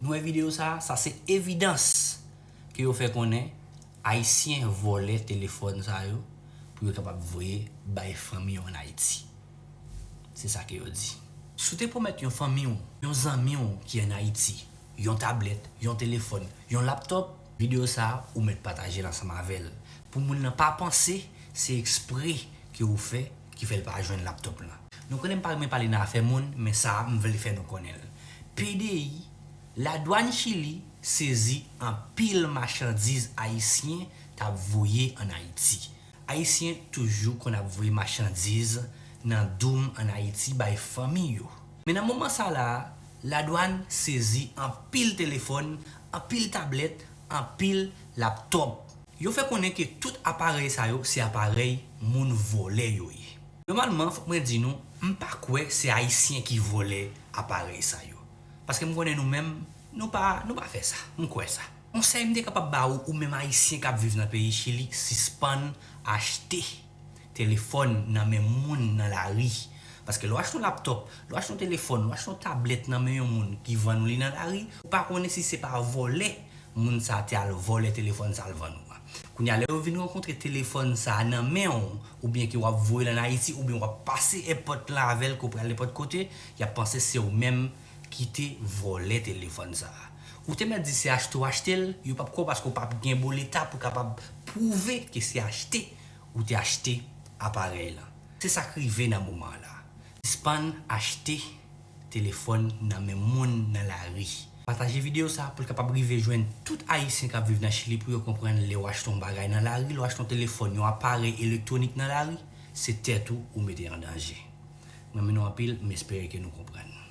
Nou wè video sa, sa se evidans ke yo fè konnen ayisyen vòlè telefòn sa yo pou yo kapab voye bay fanmi yo an Ayiti. Se sa ke yo di. Si w te pwomèt yon fanmi w, yon zanmi w ki an Ayiti, yon tablèt, yon telefòn, yon laptop, video sa ou mèt pataje l ansanm avè l pou moun lan pa panse se ekspre ke ou fè, ki fè l pa jwenn laptop la. Nou konnen m pa renmen pale nan afè moun men sa a m vle fè nou konnen l. Pdi, Ladwann Chili sezi anpil machandiz Ayisyen t ap voye ann Ayiti. Ayisyen toujou konn ap voye machandiz nan doum ann Ayiti bay fanmi yo. Men nan moman sa la a, Ladwann sezi anpil telefòn, anpil tablèt, anpil laptop. Yo fè konnen ke tout aparèy sa yo se aparèy moun vòlè yo ye. Nòmalman fòk mwen di nou, m pa kwè se Ayisyen ki vòlè aparèy sa yo. Paske m konnen nou menm, nou pa, nou pa fè sa. M kwè sa. Konsèy m te kapab ba ou, ou menm Ayisyen k ap viv nan peyi Chili, sispann achte. Telefòn nan men moun nan lari. Paske lè w achte yon laptòp, lè w achte yon telefòn, lè w achte yon tablèt nan men yon moun ki vann ou li nan lari, ou pa konnen si se pa vòlè moun sa a te al vòlè telefòn sa a l vann ou a. Kounye a lè yo vin rankontre telefòn sa a nan men w oubyen ke w ap voye l ann Ayiti oubyen w ap pase èpòt lan avè l ke w pral nenpòt kote, y ap panse se w menm ki te vòlè telefòn sa a. Ou te mèt di se achte w achte l, yo p ap kwè w paske w p ap gen boleta pou w kapab pwouve ke se achte. ou te achte aparèy lan. Se sa k rive nan moman an la. Sispann achte telefòn nan men moun nan lari. Pataje videyo sa pou l kapab rive jwenn tout Ayisyen k ap viv nan Chili pou yo konprann lè w achte yon bagay nan lari, lè w achte yon telefòn, yon aparèy elektwonik nan lari, se tèt ou ou mete an danje. Mwen renmen nou anpil, m espere ke nou konprann.